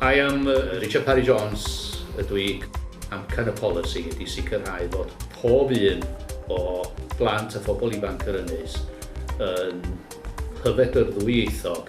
I am uh, Richard Parry Jones ydw i. Amcan y polisi ydy sicrhau fod pob un o blant a phobl ifanc yr ynys yn hyfed yr ddwy eithog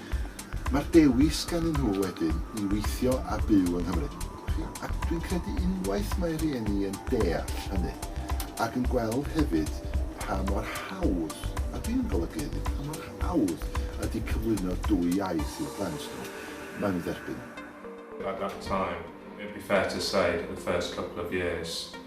Mae'r dewis ganddyn nhw wedyn i weithio a byw yng Nghymru, ac dwi'n credu unwaith mae rhieni yn deall hynny, ac yn gweld hefyd pa mor hawdd, a dwi yn golygu hynny, pa mor hawdd ydy cyflwyno dwy iaith i'r plant nhw, maen nhw'n derbyn o. At that time, it'd be fair to say that the first couple of years,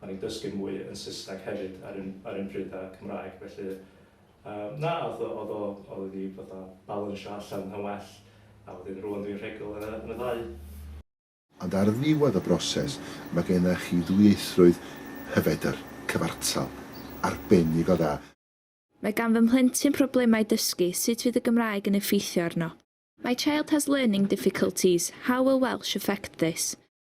O'n i'n dysgu mwy yn Saesneg hefyd ar un ar un pryd a Cymraeg felly yy na o'dd o o'dd o o'dd wedi fatha balansio allan yn well a wedyn rŵan dwi'n rhegl yn y yn y ddau. Ond ar ddiwedd y broses mae gennych chi ddwyieithrwydd hyfedr, cyfartal, arbennig o dda. Mae gan fy mhlentyn problemau dysgu, sut fydd y Gymraeg yn effeithio arno? My child has learning difficulties, how will Welsh affect this?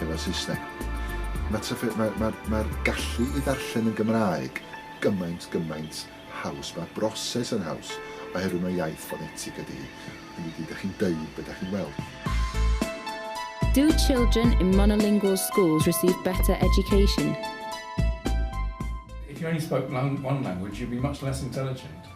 efo'r Saesneg. Mae Tafferth, mae'r, mae'r, mae'r gallu i ddarllen yn Gymraeg gymaint, gymaint haws. Mae'r broses yn haws, oherwydd mae iaith ffonetig ydy hi. Hynny ydy, dach chi'n deud be dach chi'n weld. Do children in monolingual schools receive better education? If you only spoke one language, you'd be much less intelligent.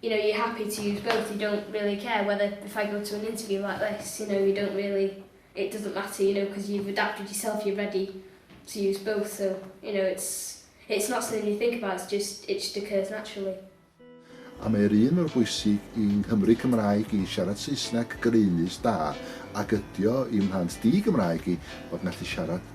you know you're happy to use both you don't really care whether if I go to an interview like this you know you don't really it doesn't matter you know because you've adapted yourself you're ready to use both so you know it's it's not something you think about it's just it just occurs naturally a mae'r un mor bwysig yng Nghymru Cymraeg i siarad Saesneg graenus da ac ydio i'm mhlant di-Gymraeg i fod yn gallu siarad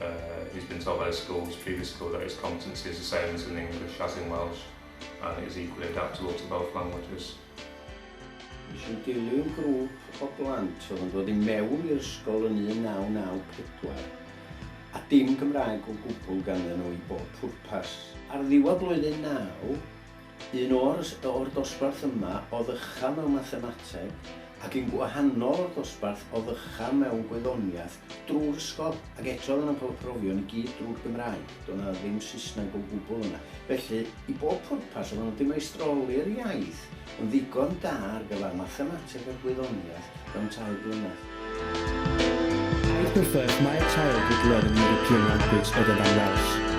Uh, he's been taught by a school whose previous school that his competency is the same as in English as in Welsh and is equally adaptable to both languages. Nes yn dilyn grŵp o blant oedd yn dod i mewn i'r ysgol yn 1994 a dim Cymraeg o gwbl ganddyn nhw i bob pwrpas. Ar ddiwedd blwyddyn 9, Un o'r o'r dosbarth yma o ddycha mewn mathemateg ac un gwahanol o'r dosbarth o ddycha mewn gwyddoniaeth drwy'r ysgol ac eto oedden nhw'n cael y profion i gyd drwy'r Gymraeg, doedd yna ddim Saesneg o gwbl yna. Felly, i bob pwrpas oedden nhw wedi maestroli'r iaith yn ddigon da ar gyfer mathemateg a gwyddoniaeth mewn tair blynedd. I prefer my child would learn an European language other than Welsh.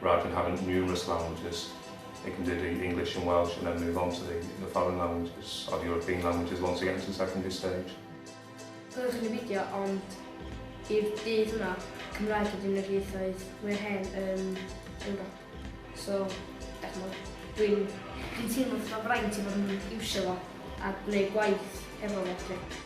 Rather than having numerous languages, they can do the English and Welsh and then move on to the, the foreign languages or the European languages once they get into secondary stage. Byddwch yn nibidio ond i'r dydd yma, Cymraeg ydy'n yr ieithoedd mwy hen yn Ewrop. So, dach chi'n meddwl, dwi'n... Dwi'n teimlo bod fraint i fod yn iwsio fo a gwneud gwaith hefo fo,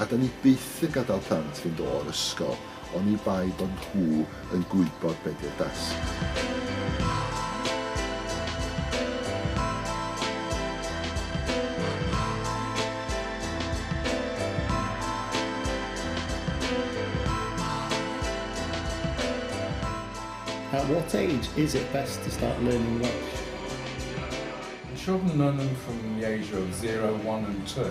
A 'da ni byth yn gadael plant fynd o'r ysgol oni bai bod nhw yn gwybod be di'r dasg. At what age is it best to start learning Welsh? Yn siwr fy nhw'n fy mieisio zero, one and two.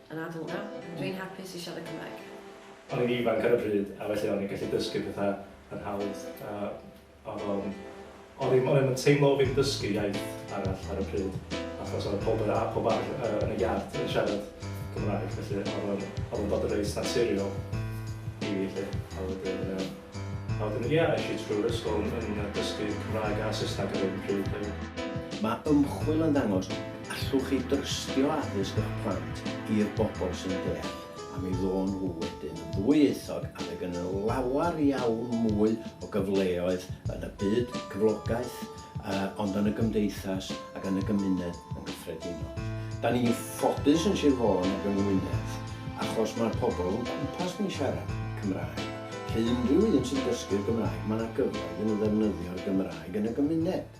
Yn adl na. Dw i'n hapus i siarad Cymraeg. O'n i'n ifanc ar y pryd a felly o'n i'n gallu dysgu pethau yn hawdd a oedd o'n... o'n i'm yn teimlo fi'n dysgu iaith arall ar y pryd achos oedd pawb a pawb arall yn y iard yn siarad Cymraeg felly oedd o'n oedd o'n dod yn reit naturiol i fi 'lly a wedyn yym... Nawr dyna ni a es i trwy'r ysgol yn yn dysgu Cymraeg a Saesneg ar yr un pryd hefyd. Mae ymchwil yn dangos allwch chi drystio addysg y'ch plant i'r bobl sy'n deall a mi ddoon nhw wedyn yn ddwyieithog a fe gynnon nhw lawar iawn mwy o gyfleoedd yn y byd cyflogaeth, ond yn y gymdeithas ac yn y gymuned yn gyffredinol. Da ni'n ffodus yn Sir Fôn ac yng Ngwynedd achos mae'r pobl o'n cwmpas ni'n siarad Cymraeg. Felly unrhyw un sy'n dysgu'r Gymraeg, mae yna gyfle iddyn nhw ddefnyddio'r Gymraeg yn y gymuned.